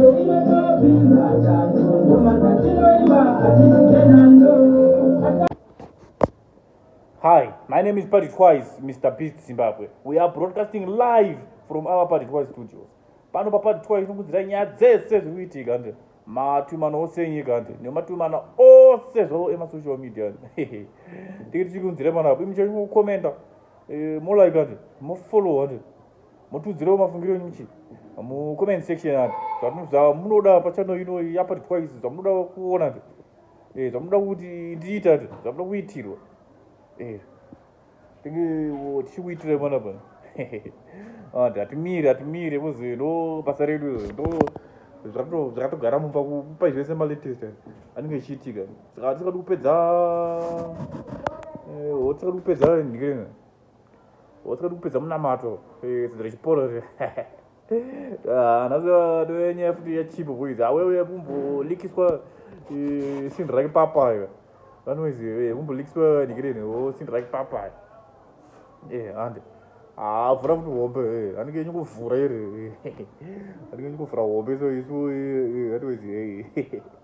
Hi, my name is Patrick Wise, Mr. Beast Zimbabwe. We are broadcasting live from our Patrick Wise studios. Pano pa Patrick Wise tinokudzira nyaya dzese zviri kuitika nde matumana ose enyika nde nematumana ose zvavo ema social media nde tiki tichikunzira pano apo imi chaicho mokomenta eh, molike nde mofollowa nde Mutudziro wemafungiro enyu muchii? Mu comment section apo. Zvamunoda munoda pachano ino yapa twice zvamunoda kuona kuti eh zvamunoda kuti ndiita kuti zvamunoda kuitirwa. Eh. Tinge tichikuitira mwana bwana. Ah, hatimire hatimire muzi ndo basa redu ndo zvakatogara mumba kupa zvese malatest anenge echiitika saka hatisingadi kupedza eh, hatisingadi kupedza ndikirena wasikadi kupedza munamato tsidzo rechiporo zve nhasinyaya futi yachipo boys awewe kumbolikiswa sindi rake papa iwe vanoizi kumbolikiswa nikireni o sindi rake papa e hande avhura ah, futi hombe eh, anenge enyu kuvhura iri anenge enyu kuvhura hombe so isu eh, eh, vanoizi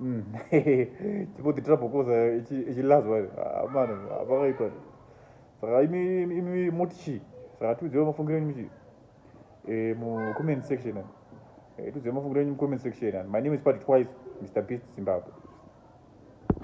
Mm. Chipoti trouble koza echilazwa ah, mani apakaipa ah, saka imi imi moti chii saka tiudziwa mafungiro enyu chii eh, mu comment section eh, tiudziwa mafungiro enyu mu comment section my name is party twice mr beast zimbabwe